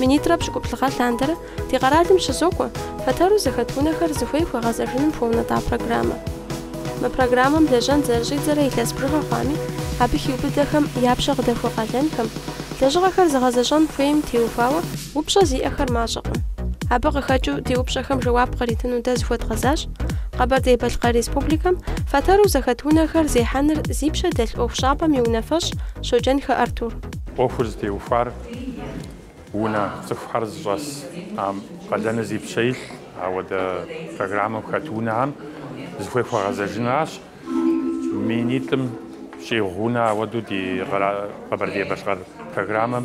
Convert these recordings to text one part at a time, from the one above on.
Минитӏрэ пщыкӏуплӏ гъэ лъандэрэ ди къэралым щызокӏуэ фэтэру зэхэт унэхэр зыхуей хуэгъэзэжыным хуэунэтӏа программэ. Мы программэм лэжьэн зэрыщӏидзэрэ илъэс бжыгъэ хъуами, абы хиубыдэхэм я пщэ къыдэхуэ къалэнхэм, лэжьыгъэхэр зыгъэзэщӏэн хуейм теухуауэ упщӏэ зиӏэхэр мащӏэкъым. Абы къыхэкӏыу ди упщӏэхэм жэуап къритыну дэ зыхуэдгъэзащ Къэбэрдей-Балъкъэр Республикэм фэтэру зэхэт унэхэр зехьэныр зи пщэ дэлъ ӏуэхущӏапӏэм и унафэщӏ Щоджэнхэ Артур. ӏуэхур зытеухуар унэ цӏыхухэр зыщӏэс ам къалэныр зи пщэ илъ ауэдэ программэм хэт унэхэм зыхуей хуэгъэзэжыныращ. Минитӏым щӏигъу унэ ауэдэу ди Къэбэрдей-Балъкъэр программэм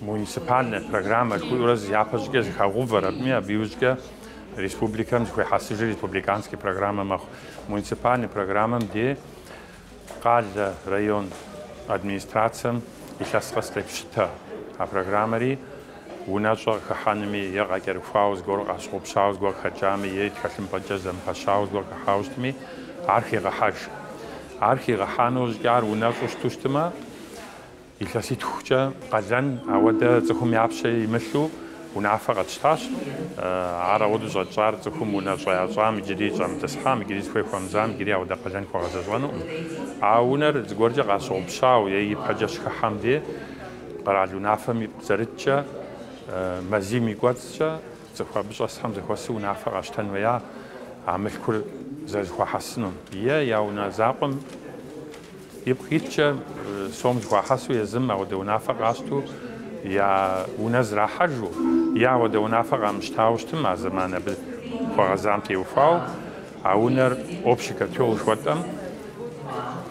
Муниципальнэ программэ жыхуиӏэурэ зы япэ щӏыкӏэ зыхагъэувэр, абыми абы иужькӏэ республикэм зыхуехьэсыжри республиканскэ программэ мэхъу. Муниципальнэ программэм дей къалэ, район администрацэм илъэс къэс къепщытэ. А программэри унэщӏэ къыхыхьэнми е къакӏэрыхуауэ зыгуэр къащыгъупщауэ зыгуэр къыхэкӏами е тхылъымпӏэкӏэ зэмыпэщауэ зыгуэр къыхыхьауэ щытми, ар хегъэхьэж. Ар хигъэхьэну щӏыкӏэ ар унэщӏу щыту щытмэ, Илъэситхукӏэ къалэн ауэдэ цӏыхум я пщэ имылъу унафэ къэтщтащ. Ар ауэдэу щӏэтщӏар цӏыхум унэщӏэ ящӏам, иджыри щӏэмытӏысхьам, иджыри зыхуей хуэмызам, иджыри ауэдэ къалэн хуэгъэзэщӏэнукъым. А унэр зыгуэркӏэ къащыгъупщауэ е ипэкӏэ щыхыхьэм де, къэрал унафэм ипкъ зэриткӏэ, мазийм и кӏуэцӏкӏэ цӏыху абы щӏэсхэм зэхуэсу унафэ къащтэн хуея а мылъкур зэрызэхуахьэсыну е я унэ закъуэм. Ипкъ иткӏэ сом зыхуахьэсу езым ауэдэ унафэ къащту я унэ зрахьэжу, е ауэдэ унафэ къамыщтауэ щытым а зэман абы хуэгъэзам теухуауэ а унэр общий котел жыхуэтӏэм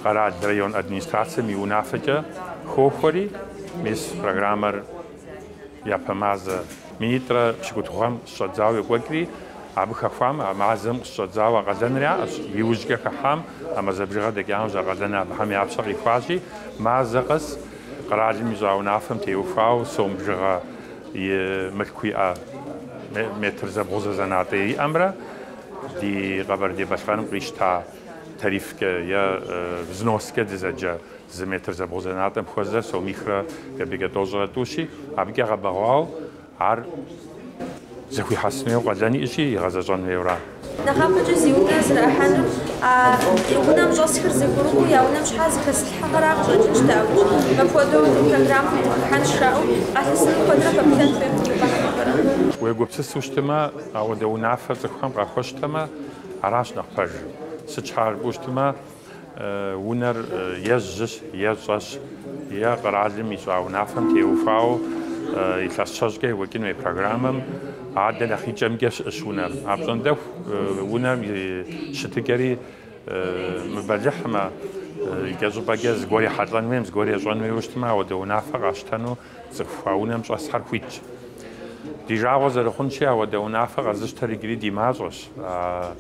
къэрал, район администрацэм и унафэкӏэ хохуэри, мис программэр Япэ мазэ минитӏрэ пщыкӏутху гъэм къыщыщӏэдзауэ екӏуэкӏри, абы хэхуам а мазэм къыщыщӏэдзауэ къалэныр яӏэщ. Иужькӏэ хыхьам а мазэ бжыгъэр дэкӏа иужь а къалэн абыхэм я пщэ къихуащи, мазэ къэс къэралым ищӏа унафэм теухуауэ сом бжыгъэ и мылъку иӏэ метр зэбгъузэ зэнатӏэ иӏэмрэ ди Къэбэрдей-Балъкъэрым къищта тарифкӏэ е взноскӏэ дызэджэ Зы метр зэбгъузэнатӏэм хуэзэр сомихрэ кӏэпӏейкӏэ тӏощӏрэ тӏущи, абыкӏэ гъэбэгъуауэ ар зэхуихьэсын хуейуэ къалэн иӏэщи, игъэзэщӏэн хуейуэ аращ. Нэхъапэкӏэ зи унэ зэрахьэнур, а унэм щӏэсхэр зэгурыӏуэу я унэм щхьа зыхэзылъхьэхэра къыщӏэкӏынщ дэ абыкӏ. Мыпхуэдэу ди программэм дыхыхьэнщ жаӏэу къалъысыну куэдрэ пэплъэн хуейм ди гуфӏэхьэмэхэр. Уегупсысу щытмэ, ауэдэ унафэр цӏыхухэм къахуэщтэмэ, аращ нэхъ пэжыр. Сыт щхьэкӏэ жыпӏэу щытмэ, Унэр е жьыщ, е щӏэщ, е къэралым ищӏа унафэм теухуауэ илъэс щэщӏкӏэ екӏуэкӏын хуей программэм адэ нэхъ и кӏэмкӏэ щыӏэщ унэр. Апщӏондэху унэм и щытыкӏэри мыбэлыхьмэ, икӏэщӏыпӏэкӏэ зыгуэр ехьэлӏэн хуейм, зыгуэр ещӏэн хуейуэ щытмэ, ауэдэ унафэ къащтэну Цӏыху а унэм щӏэсхьэр хуитщ. Ди жагъуэ зэрыхъунщи, ауэдэ унафэ къэзыщтэр иджыри ди мащӏэщ. А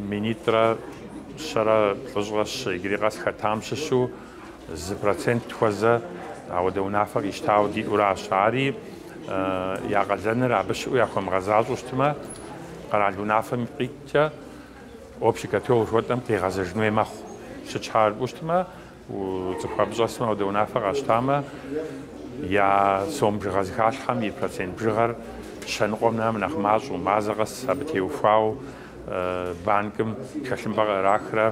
минитӏрэ щэрэ плӏыщӏрэ щы иджыри къэс хэтам щыщу зы процент хуэзэ ауэдэ унафэ къищтауэ диӏуращ. Ари я къалэныр абы щыӏэу яхуэмыгъэзащӏэу щытмэ, къэрал унафэм ипкъ иткӏэ общий котел жыхуэтӏэм къигъэзэжын хуей мэхъу. Сыт щхьэ жыпӏэу щытмэ, Цӏыху абы щӏэсмэ, ауэдэ унафэ къащтамэ, я сом бжыгъэ зыхалъхьэм и процент бжыгъэр щэныкъуэм нэм нэхъ мащӏэу, мазэ къэс абы теухуауэ банкым тхылъымпӏэ къырахрэ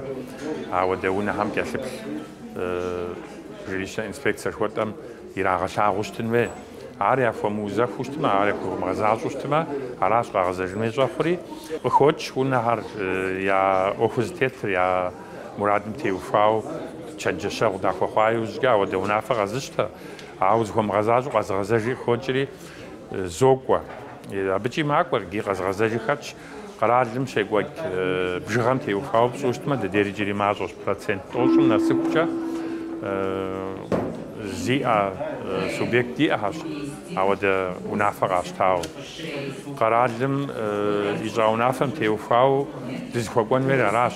ауэдэ унэхэм кӏэлъыплъ жилищнэ инспекцэ жыхуэтӏэм ирагъэлъагъуу щытын хуей. Ар яхуэмыузэхуу щытмэ, ар яхуэмыгъэзащӏэу щытмэ, аращ къагъэзэжын хуей щӏэхъури. Къыхокӏ унэхэр, я ӏуэхуу зытетыр, я Мурадым теухуауэ чэнджэщэгъу дахуэхъуа иужькӏэ ауэдэ унафэ къэзыщтэ, ауэ зыхуэмыгъэзащӏэу къэзыгъэзэжи къыхокӏри, зокӏуэ. Абыкӏи макӏуэр ди къэзыгъэзэжи хэтщ, къэралым щекӏуэкӏ бжыгъэм теухуауэ пщӏу щытмэ, дыдейр иджыри мащӏэщ, процент тӏощӏым нэсыхукӏэ зиӏэ субъект диӏэхэщ. Ауэдэ унафэ къащтауэ, къэралым и щӏа унафэм теухуауэ дызыхуэкӏуэн хуейр аращ.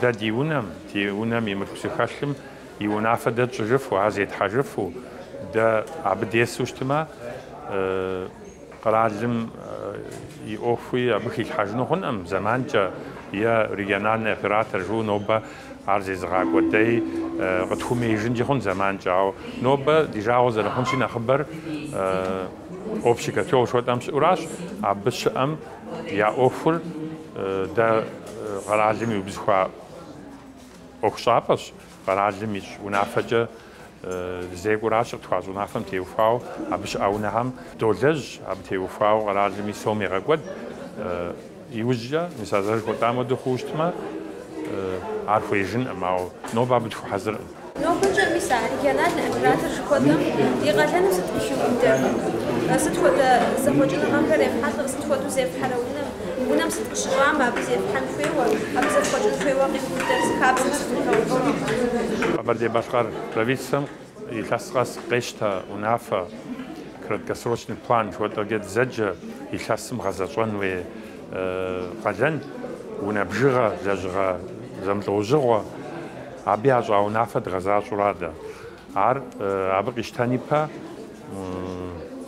Дэ ди унэм, ди унэм и мылъку зыхэлъым и унафэ дэ тщӏыжыфу, ар зетхьэжыфу, дэ абы десу щытмэ, къэралым и ӏуэхуи абы хилъхьэжыну хъункъым, зэманкӏэ е региональный оператор жыу нобэ Ар зезыгъакӏуэ дэй къытхуэмеижынкӏи хъун зэманкӏэ, ауэ нобэ ди жагъуэ зэрыхъунщи нэхъыбэр общий котел жыхуэтӏэм щыӏэуращ. Абы щыӏэм я ӏуэхур дэ къэралым иубзыхуа ӏуэхущӏапӏэщ, къэралым ищӏ унафэкӏэ Зекӏуращ къытхуащӏ унафэм теухуауэ абы щыӏа унэхэм. Долэжь абы теухуауэ къэралым и сом егъэкӏуэд. Иужькӏэ, мис а жыхуэтӏам хуэдэу хъууэ щытмэ, ар хуеижынкъым, ауэ нобэ абы дыхуэхьэзыркъым. Нобэкӏэ мис а региональнэ оператор жыхуэтӏэм и къалэныр сыт къыхиубыдэр? Сыт хуэдэ зэхъуэкӏыныгъэхэр ефхьэлӏэр? Сыт хуэдэу зефхьэрэ унэм? Унэм сыт къыщыщӏами, абы зефхьэн хуейуэ, абы зэфхъуэкӏын хуейуэ къиубыдэ зи хабзэхэр зыгугъэувэну. Къэбэрдей-Балъкъэр правительствэм илъэс къэс къещтэ унафэ, краткосрочный план жыхуэтӏэкӏэ дызэджэ илъэсым гъэзэщӏэн хуей къалэн, унэ бжыгъэ, лэжьыгъэ зэмылӏэужьыгъуэ. Абы ящӏа унафэ дгъэзащӏэура дэ. Ар абы къищтэн ипэ,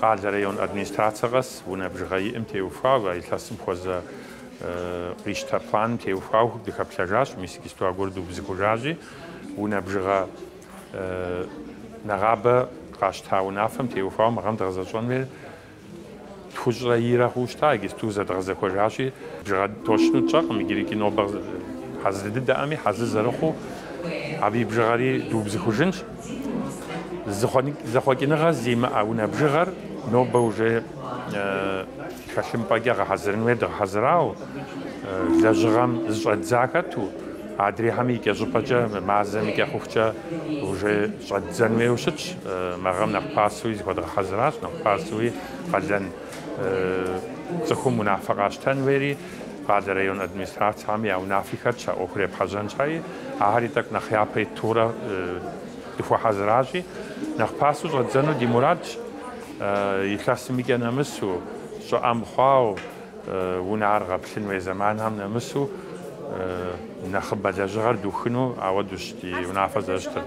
къалэ район администрацэ къэс унэ бжыгъэ иӏым теухуауэ, а илъэсым хуэзэ къищтэ планым теухуауэ дыхэплъэжащ, мис иджыстуа гуэр дубзыхужащи, унэ бжыгъэ нэгъабэ къащта унафэм теухуауэ мы гъэм дгъэзэщӏэн хуейр тхущӏрэ ирэ хъуу щыта, иджысту зэдгъэзэхуэжащи, бжыгъэр точну тщӏэркъым иджырикӏ нобэ хьэзыр дыдэкъыми, хьэзыр зэрыхъуу абы и бжыгъэри дубзыхужынщ. Зэхъуэкӏыныгъэ зимыӏэ унэ бжыгъэр нобэ уже тхэлъымпӏэкӏэ гъэхьэзырын хуейт, гъэхьэзырауэ, лэжьыгъэм зыщӏэддза хэту. Адрейхэми и кӏэ щӏыпӏэкӏэ, мазэм и кӏэ хъухукӏэ уже щӏэддзэн хуейуэ щытщ. Мы гъэм нэхъ пасэуи зыхуэдгъэхьэзыращ, нэхъ пасэуи къалэн цӏыхум унафэ къащтэн хуейри, къалэ район администрацэхэми я унафи хэтщ а ӏуэхур епхьэжьэн щхьэи, ахэри тӏэкӏу нэхъ япэ итурэ дыхуэхьэзыращи, нэхъ пасэу щӏэддзэну ди мурадщ, илъэсым и кӏэ нэмысу, щӏыӏэ мыхъуауэ. Унэр гъэплъын хуей зэманхэм нэмысу нэхъыбэ лэжьыгъэр духыну ауэдущ ди унафэр зэрыщытыр.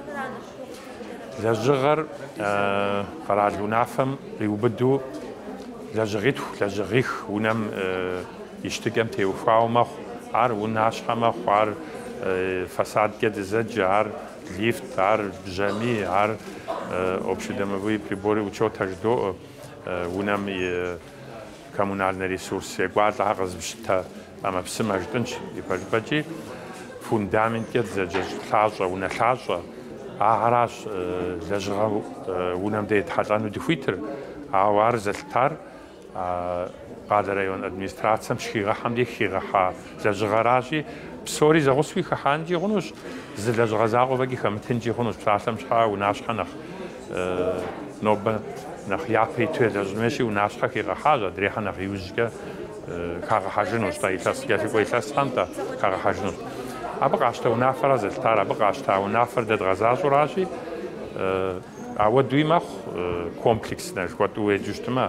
Лэжьыгъэр къэрал унафэм къиубыду лэжьыгъитху, лэжьыгъих унэм и щытыкӏэм теухуауэ мэхъу. Ар унащхьэ мэхъу, ар фасадкӏэ дызэджэ, ар лифт, ар бжьамий, ар общедомовые приборы учета жыдоӏэ унэм и Коммунальнэ ресурс екӏуалӏэхэр къэзыпщытэ ӏэмэпсымэ жытӏынщ, ипэжыпӏэкӏи фундаменткӏэ дызэджэщ лъащӏэ, унэ лъащӏэ. Ахэращ лэжьыгъэ унэм дэ етхьэлӏэну дыхуитыр, ауэ ар зэлъытар къалэ район администрацэм щыхигъэхьэм деж хигъэхьа лэжьыгъэращи, псори зэгъусэуи хыхьэнкӏи хъунущ, зы лэжьыгъэ закъуэ фӏэкӏи хэмытынкӏи хъунущ, псалъэм щхьа унащхьэ нэхъ. нобэ нэхъ япэ иту елэжьын хуейщи, унащхьэ хигъэхьащ, адрейхьэр нэхъ иужькӏэ хагъэхьэжынущ, тӏэ, илъэс, кӏэлъыкӏуэ илъэсхэм, тӏэ, хагъэхьэжынущ. Абы къащтэ унафэра зэлъытар, абы къащта унафэр дэ дгъэзащӏэуращи, ауэдуи мэхъу, комплекснэ жыхуэтӏэу уеджэу щытмэ.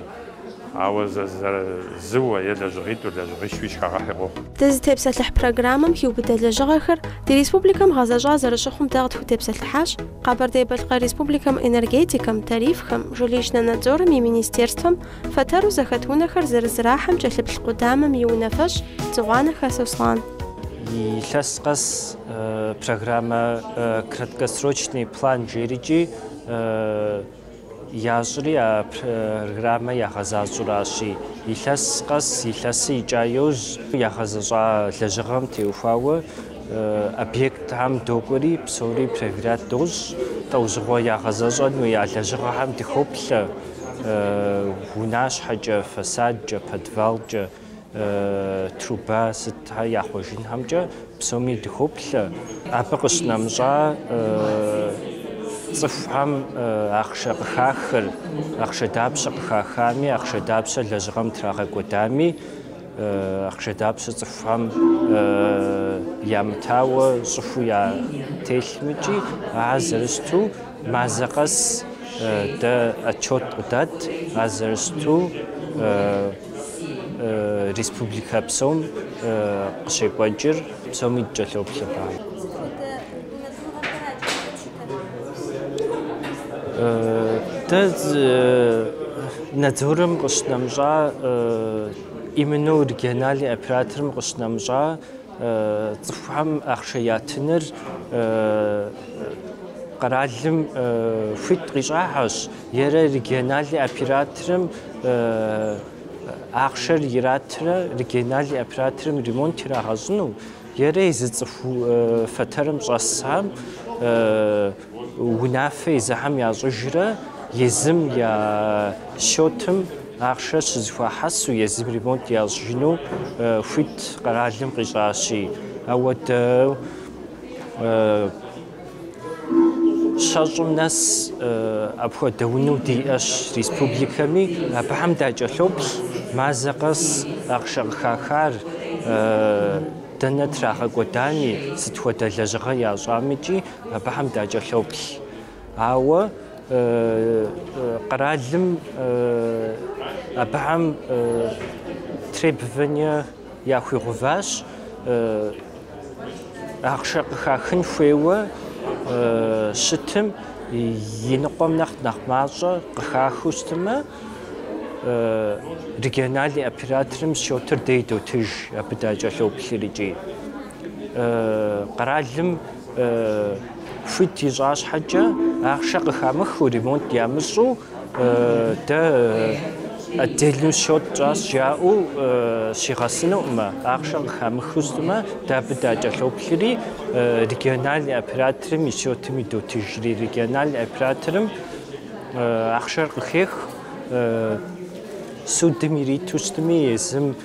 Ауэ зэзэрэзыуэ е лэжьыгъитӏу лэжьыгъищуи щхагъэхьи къохъу. Дызытепсэлъыхь программэм хиубыдэ лэжьыгъэхэр ди республикэм гъэзэщӏа зэрыщыхъум дэ къытхутепсэлъыхьащ Къэбэрдей-Балъкъэр Республикэм энергетикэм, тарифхэм, жилищнэ надзорым и министерствэм фэтэру зэхэт унэхэр зэрызэрахьэм кӏэлъыплъ къудамэм и унафэщӏ Дзыгъуанэхэ Сослан. Илъэс къэс программэ краткосрочный план жери икӏи. Ящӏри а программэ ягъэзащӏэуращи, илъэс къэс илъэсыр икӏа иужь. Ягъэзэщӏа лэжьыгъэм теухуауэ объектхэм докӏуэри, псори проверят дощӏ. Лӏэужьыгъуэ ягъэзэщӏэн хуея лэжьыгъэхэм дыхоплъэ, унащхьэкӏэ, фасадкӏэ, подвалкӏэ. труба сыт яхъуэжынхэмкӏэ псоми дыхоплъэ. Абы къыщынэмыщӏа цӏыхухэм ахъшэ къыхахыр, ахъшэ дапщэ къыхахами, ахъшэ дапщэ лэжьыгъэм трагъэкӏуэдами, ахъшэ дапщэ цӏыхухэм ямытауэ щӏыхуу ятелъмэкӏи, ар зэрыщыту мазэ къэс дэ отчет къыдэт, ар зэрыщыту Республикэ псом къыщекӏуэкӏыр псоми дыкӏэлъоплъыр. Дэ надзорым къыщынэмыщӏа, именно региональный операторым къыщынэмыщӏа цӏыхухэм ахъшэ ятыныр къэралым хуит къищӏахьэщ. Ерэ региональный операторым ахъшэр иратрэ региональный операторым ремонт ирагъэщӏыну, ерэ езы цӏыху фэтэрым щӏэсхэм унафэ езыхэм ящӏыжрэ езым я счетым ахъшэр щызэхуахьэсу, езым ремонт ящӏыжыну хуит къэралым къищӏащи. Ауэдэу Щэщӏым нэс апхуэдэ унэу диӏэщ республикэми, абыхэм дакӏэлъоплъ мазэ къэс ахъшэ къыхахар, дэнэ трагъэкӏуэдами, сыт хуэдэ лэжьыгъэ ящӏамикӏи, абыхэм дакӏэлъоплъ. Ауэ къэралым абыхэм требование, Яхуигъэуващ ахъшэ къыхахын хуейуэ щытым и ныкъуэм нэхъ нэхъ мащӏэ къыхахыу щытымэ, региональный операторым счетыр дей дотыж, абы дакӏэлъоплъыр икӏи. Къэралым хуит ищӏа щхьэкӏэ, ахъшэ къыхамыхыу, ремонт ямыщӏу, Дэ отдельно счет тщӏащ жаӏэу щигъэсынукъымэ, ахъшэ къыхамыхыу щытмэ, дэ абы дакӏэлъоплъри, региональный операторым и счетым идотыжри, региональный операторым ахъшэр къыхех, судым ириту щытми, езым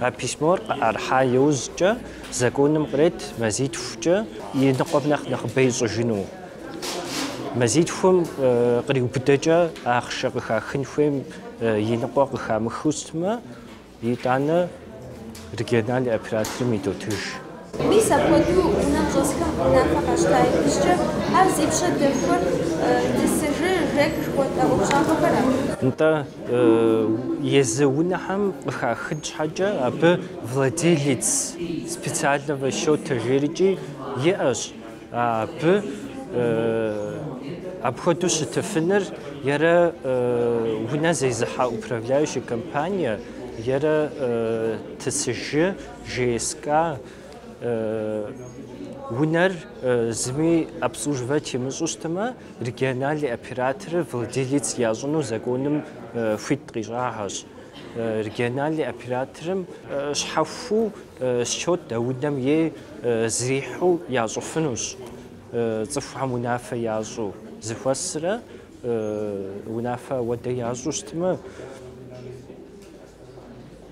А письмор къыӏэрыхьа иужькӏэ законым кърет мазитхукӏэ и ныкъуэм нэхъ нэхъыбэ ищӏыжыну. Мазитхум къриубыдэкӏэ ахъшэ къыхахын хуейм и ныкъуэ къыхамыхыу щытмэ, итӏанэ региональный операторым идотыж. Мис апхуэдэу унэм щӏэсхэм унафэ къащта иужькӏэ, ар зи пщэ дэхуэр ТСЖ, ЖЭК жыхуэтӏэ ӏуэхущӏапӏэхэра? Нтӏэ, езы унэхэм къыхахын щхьэкӏэ абы владелец специального счета жерикӏи иӏэщ, абы апхуэдэу щытыфыныр ерэ унэ зезыхьэ управляющая компания, ерэ ТСЖ. ЖСК унэр зыми обслуживать имыщӏу щытмэ, региональный операторыр владелец ящӏыну законым хуит къищӏагъэщ. Региональный операторым щхьэхуу счет а унэм ей зэрихьу ящӏыфынущ, цӏыхухэм унафэ ящӏу зыхуэсрэ унафэ ауэдэ ящӏу щытмэ.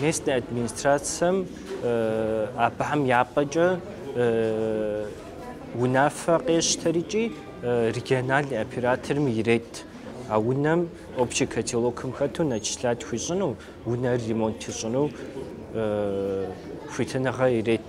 Местнэ администрацэм абыхэм я пӏэкӏэ унафэ къещтэрикӏи региональный операторым ирет а унэм общий котелокым хэту начислять хуищӏыну, унэр ремонт ищӏыну хуитыныгъэ ирет.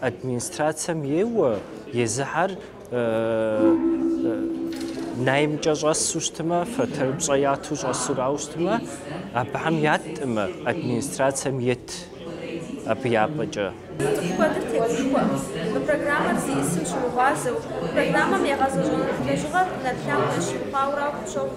Администрацэм ейуэ, езыхэр наймкӏэ щӏэсу щытмэ, фэтэр пщӏэ яту щӏэсурау щытмэ, абыхэм яттӏымэ, администрацэм ет абы япӏэкӏэ. Сытми куэдыр тегушхуэ, мы программэр зищӏысым щыгъуазэу, программэм игъэзэщӏэну лэжьыгъэр нэрылъагъу ящыхъуауэрау къыпщохъу.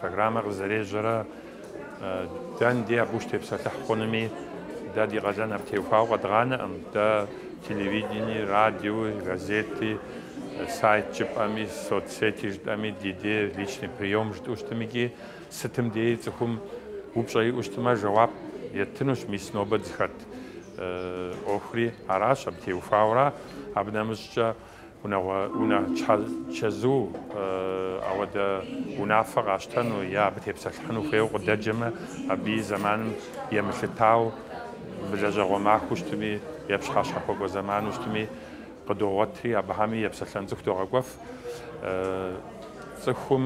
Программэр къызэрежьэрэ дэн дей абы ущытепсэлъыхь хъунуми, дэ ди къалэн абы теухуауэ къэдгъанэкъым. Дэ телевидении, радиои, газети, сайт жыпӏэми, соцсети жытӏэми, ди дей личный приём жытӏэу щытым икӏи сытым деи цӏыхум упщӏэ иӏэу щытымэ, жэуап еттынущ, мис нобэ дызыхэт ӏуэхури аращ, абы теухуауэра. Абы нэмыщӏкӏэ Унагъуэ унэ чэзу ауэдэ унафэ къащтэну е абы тепсэлъыхьыну хуейуэ къыдэджэмэ, абы и зэманым емылъытау мы лэжьэгъуэ махуэу щытми е пщыхьэщхьэхуэкӏуэ зэману щытми къыдогъуэтри, абыхэми епсэлъэн цӏыху догъэкӏуэф. Цӏыхум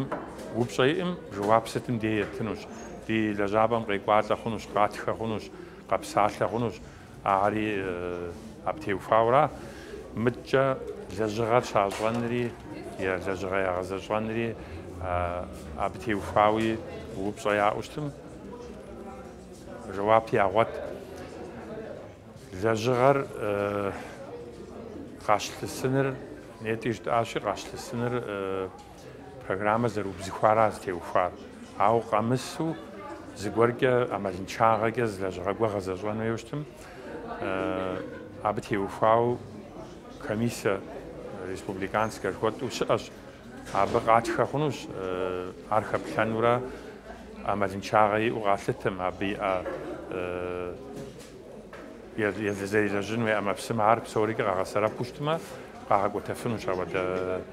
упщӏэ иӏэм жэуап сытым дей еттынущ, ди лэжьапӏэм къекӏуалӏэ хъунущ, къатхэ хъунущ, къэпсалъэ хъунущ. Ари абы теухуауэрэ, мыдэкӏэ лэжьыгъэр щащӏэнри е лэжьыгъэ ягъэзэщӏэнри абы теухуауи упщӏэ яӏэу щытым, жэуап ягъуэт. Лэжьыгъэр къащлъысыныр, нетӏэ жытӏащи, къащлъысыныр Программэ зэрыубзыхуара зытеухуар, ауэ къэмысу зыгуэркӏэ ӏэмалыншагъэкӏэ зы лэжьыгъэ гуэр гъэзэщӏэн хуейуэ щытым. Абы теухуауэ комиссэ республиканскэ жыхуэтӏу щыӏэщ. Абы къатхэ хъунущ ар хэплъэнурэ ӏэмалыншагъэ иӏэу къалъытым, абы иӏэ зэрылэжьын хуей ӏэмэпсымэ ар псори къагъэсэрэпу щытмэ, къагъэкӏуэтэфынущ ауэдэ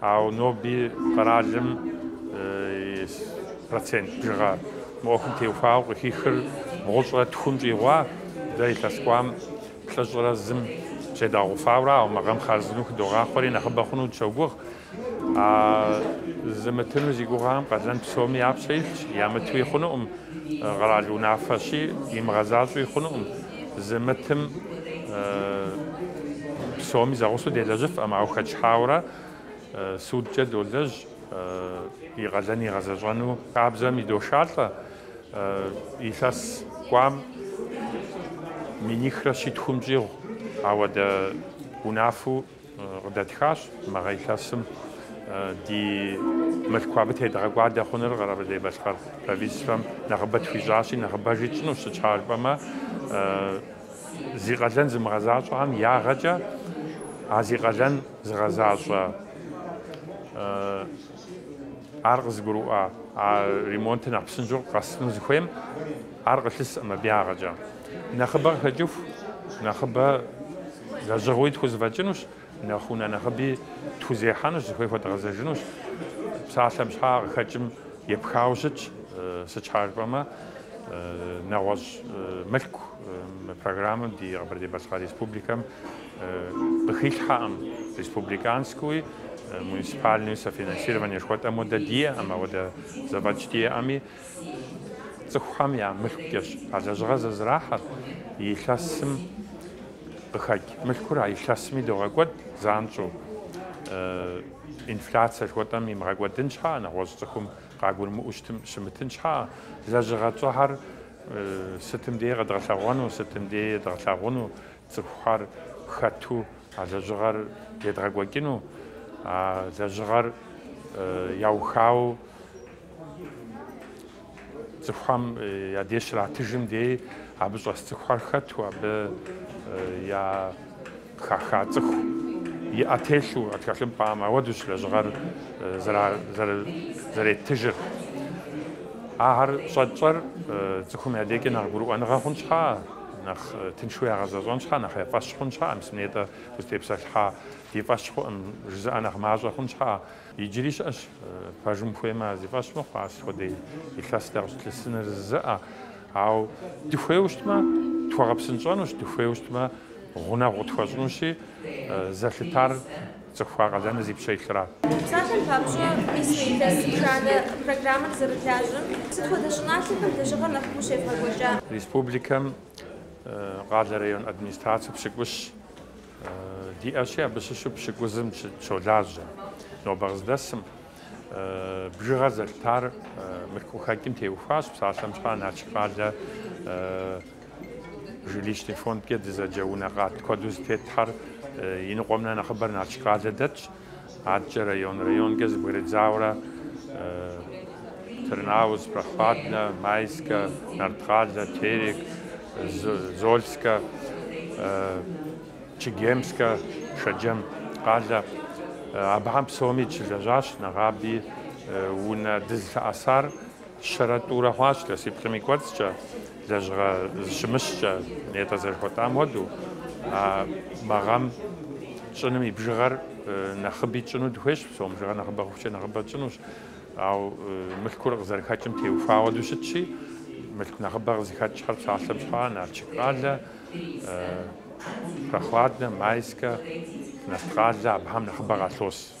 Ауэ ноби къэралым и процент бжыгъэ мы ӏуэхум теухуауэ къыхихыр бгъущӏрэ тхум щӏигъуа дэ илъэс кӏуам плӏыщӏрэ зым щӏедгъэгъуфауэрэ ауэ мы гъэм хъарзынэу хыдогъахъуэри нэхъыбэ хъуну дыщогугъ. А зымытыну зи гугъэхэм къалэн псоми я пщэ илъщ, ямытуи хъунукъым, къэрал унафэщи, имыгъэзащӏэуи хъунукъым. Зымытым псоми зэгъусэу делэжьыфкъым, ауэ хэчыхьауэрэ судкӏэ долэжь и къалэн игъэзэщӏэну. Хабзэм идошалӏэ илъэс кӏуам минихрэ щитхум щӏигъу ауэдэ унафэу Къыдэтхащ мы гъэ илъэсым ди мылъку абы тедгъэкӏуадэ хъуныр Къэбэрдей-Балъкъэр правительствэм нэхъыбэ тхуищӏащи, нэхъыбэжи тщӏынущ, сыт щхьа жыпӏэмэ, зи къалэн зымыгъэзащӏэхэм ягъэкӏэ а зи къалэн зыгъэзащӏэ, ар къызыгурыӏуа а ремонтыр нэхъ псынщӏэу къэсыну зыхуейм ар къылъыскъым абы ягъэкӏэ. Нэхъыбэ къыхэкӏыху, нэхъыбэ Лэжьыгъэуи тхузэфӏэкӏынущ, нэхъ унэ нэхъыби тхузехьэнущ, зыхуей хуэдгъэзэжынущ. Псалъэм щхьа къыхэкӏым епхауэ щытщ, сыт щхьа жыпӏэмэ, нэгъуэщӏ мылъку мы программэм ди Къэбэрдей-Балъкъэр Республикэм къыхилъхьэкъым, республиканскэуи, муниципальнэуи софинансирование жыхуэтӏэм хуэдэ диӏэкъым, ауэдэ зэфӏэкӏ диӏэми, Цӏыхухэм я мылъкукӏэщ а лэжьыгъэр зэзрахьэр, и илъэсым къыхэкӏ мылъкур а илъэсми догъэкӏуэд занщӏэу. Инфляцие жыхуэтӏэм имыгъэкӏуэдын щхьэӏэ, нэгъуэщӏ цӏыхум къагурымыӏуэу щымытын щхьэӏэ, лэжьыгъэ тщӏыхьэр сытым дей къэдгъэлъэгъуэну, сытым дей едгъэлъагъуну, цӏыхухэр хэту а лэжьыгъэр едгъэкӏуэкӏыну, а лэжьыгъэр яухауэ, Цӏыхухэм я деж щратыжым дей абы щӏэс цӏыхухэр хэту, абы я хаха цӏыху и ӏэ телъу а тхылъымпӏэм, ауэдущ лэжьыгъэр зэреттыжыр. Ахэр щӏэтщӏэр цӏыхум я декӏэ нэхъ гурыӏуэныгъэ хъун щхьа, нэхъ тыншу ягъэзэщӏэн щхьа, нэхъ я фӏэщ хъун щхьа, мис нетӏэ узытепсэлъыхьа ди фӏэщ хъуӏым жызыӏэ нэхъ мащӏэ хъун щхьа, Иджыри щыӏэщ, пэжым хуеймэ, зи фӏэщ мыхъу, ар сыт хуэдэ илъэс дэ къыщытлъысыныр жызыӏэ. Ауэ дыхуейуэ щытмэ, тхуэгъэпсынщӏэнущ, дыхуейуэ щытмэ, гъунэгъу къытхуэщӏынущи, зэлъытар цӏыху а къалэныр зи пщэ илъыращ. Псалъэм папщӏэ, мис илъэс етхуанэ программэр зэрылажьэм, сыт хуэдэ щӏыналъэхэм лэжьыгъэр нэхъыфӏу щевгъэкӏуэкӏа? Республикэм къалэ район администрацэу пщыкӏущ. Диӏэщи, абы щыщу пщыкӏузым щолажьэ. Нобэ къыздэсым, бжыгъэр зэлъытар мылъку хэкӏым теухуащ, псалъэм щхьа Налшык къалэ жилищный фондкӏэ дызэджэ унэ къат куэду зэтетхьэр и ныкъуэм нэхърэ нэхъыбэр Налшык къалэ дэтщ. Адэкӏэ район-районкӏэ зэбгрыдзауэрэ Тырныауз, Прохладнэ, Майскэ, Нарткъалэ, Терек, Зольскэ, Чегемскэ, Шэджэм къалэ. Абыхэм псоми дыщылэжьащ, нэгъаби унэ дызылъэӏэсар. Щэрэ тӏурэ хъуащ илъэсиплӏым и кӏуэцӏкӏэ, лэжьыгъэ зыщымыщкӏэ, нетӏэ зэрыхуэтӏам хуэдэу, а мы гъэм тщӏыным и бжыгъэр нэхъыби тщӏыну дыхуейщ, псом бжыгъэр нэхъыбэ хъухукӏэ нэхъыбэ тщӏынущ, ауэ мылъкур къызэрыхэкӏым теухуа хуэдэу щытщи, мылъку нэхъыбэ къызыхэкӏхэр псалъэм щхьа Налшык къалэ, Прохладнэ, Майскэ, Нарткъалэ, абыхэм нэхъыбэ къалъос.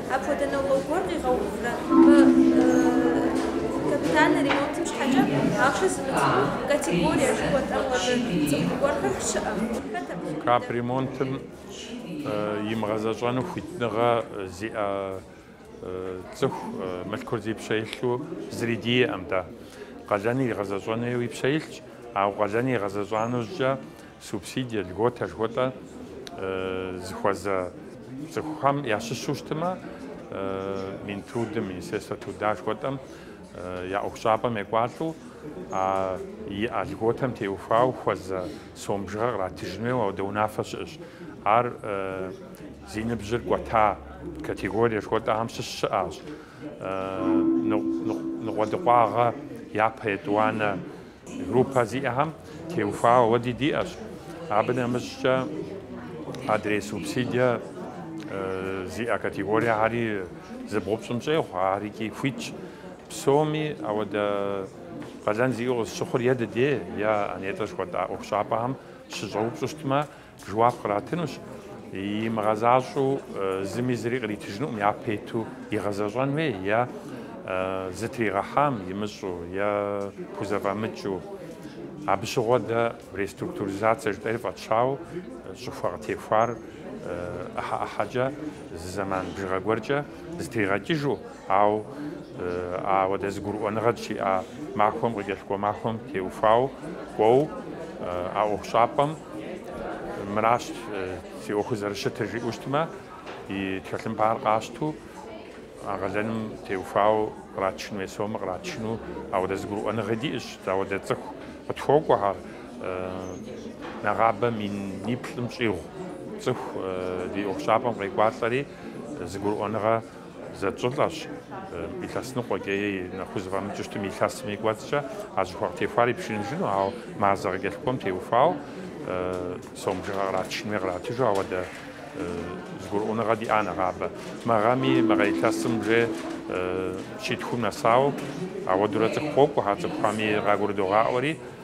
Апхуэдэ нормэ гуэр къигъэуврэ? Мы капитальнэ ремонтым щхьэкӏэ ахъшэ зымыт цӏыху категорие жыхуэтӏэм хуэдэ цӏыху гуэрхэр щыӏэ? Хэт абы щӏиубыдэр? Капремонтым имыгъэзэщӏэну хуитыныгъэ зиӏэ цӏыху мылъкур зи пщэ илъу зыри диӏэӏым дэ. Къалэныр игъэзэщӏэну и пщэ илъщ, ауэ къалэныр игъэзэщӏа нэужькӏэ Субсидие, льготэ жыхуэтӏэ зыхуэзэ цӏыхухэм ящыщу щытымэ, Минтрудым, Министерство труда жыхуэтӏэм я ӏуэхущӏапӏэм екӏуалӏэу а иӏэ льготэм теухуауэ хуэзэ сом бжыгъэр къратыжын хуейуэ ауэдэ унафэ щыӏэщ. Ар зи ныбжьыр кӏуэта категорие жыхуэтӏэхэм щыщ щыӏащ. Ныкъуэдыкъуагъэ япэ етӏуанэ Группэ зиӏэхэм теухуауэ ауэди диӏэщ. Абы нэмыщӏкӏэ адрей субсидие зиӏэ категориехэри зы бгъу-пщӏым щӏегъу, ар икӏи хуитщ. Псоми ауэдэ къалэн зиӏэу къызыщыхъур е ди дей, е а нетӏэ жыхуэтӏа ӏуэхущӏапӏэхэм щыщӏэупщӏу щытмэ, Жэуап къратынущ, имыгъэзащӏэу зыми зыри къритыжынукъым, япэ иту игъэзэщӏэн хуей, е зытригъэхьам имыщӏу, е пхузэфӏэмыкӏыу. Абы щыгъуэ дэ реструктуризацие жытӏэри фӏэтщауэ щӏыхуэ къытехуар ӏыхьэ-ӏыхьэкӏэ, зы зэман бжыгъэ гуэркӏэ зытригъэкӏыжу. Ауэ ауэдэ зыгурыӏуэныгъэ дыщиӏа махуэм къыкӏэлъыкӏуэ махуэм теухуауэ кӏуэу а ӏуэхущӏапӏэм мыращ си ӏуэхур зэрыщытыр жиӏэу щытмэ, и тхылъымпӏар къащту а къалэным теухуауэ къратыжын хуей сомэ къратыжыну ауэдэ зыгурыӏуэныгъи диӏэщ, ауэдэ цӏыху къытхуокӏуэхэр нэгъабэ миниплӏым щӏигъу цӏыху ди ӏуэхущӏапӏэм къекӏуалӏэри зыгурыӏуэныгъэ Зэтщӏылӏащ, илъэс ныкъуэкӏэ е нэхъ хузэфӏэмыкӏыу щытым илъэсым и кӏуэцӏкӏэ а щӏыхуэ къытехуар ипшыныжыну, ауэ мазэ къыкӏэлъыкӏуэм теухуауэ сом бжыгъэ къратыжын хуей къратыжу ауэдэ зыгурыӏуэныгъэ диӏа нэгъабэ. Мы гъэми, мы гъэ илъэсым уже щитхум нэсауэ ауэдурэ цӏыху къокӏуэхэр, цӏыхухэми къагурыдогъаӏуэри,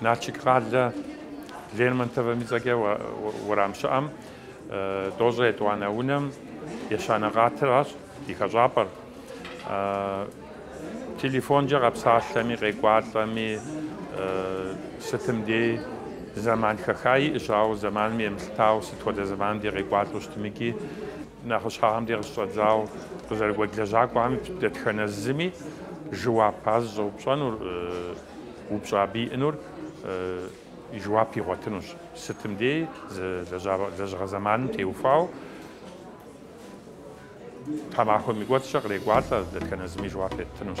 Налшык къалэ Лермонтовым и цӏэкӏэ уэрам щыӏэм, Тӏощӏэ етӏуанэ унэм ещанэ къатыращ и хэщӏапӏэр. Телефонкӏэ къэпсалъэми, къекӏуалӏэми, сытым дей зэман хэха иӏэщ, ауэ зэманым емылъытауэ, сыт хуэдэ зэманым дей къекӏуалӏэу щытымыкӏи, нэхъыщхьэхэм дей къыщыщӏэдзауэ къызэрыгуэкӏ лэжьакӏуэхэми дэтхэнэ зыми жэуап ар зыщӏэупщӏэнур. Упщӏэ абы иӏэнур и жэуап игъуэтынущ, сытым дей зы лэжьыгъэ зэманым теухуауэ тхьэмахуэм и кӏуэцӏкӏэ кърекӏуалӏэ, дэтхэнэ зыми жэуап еттынущ.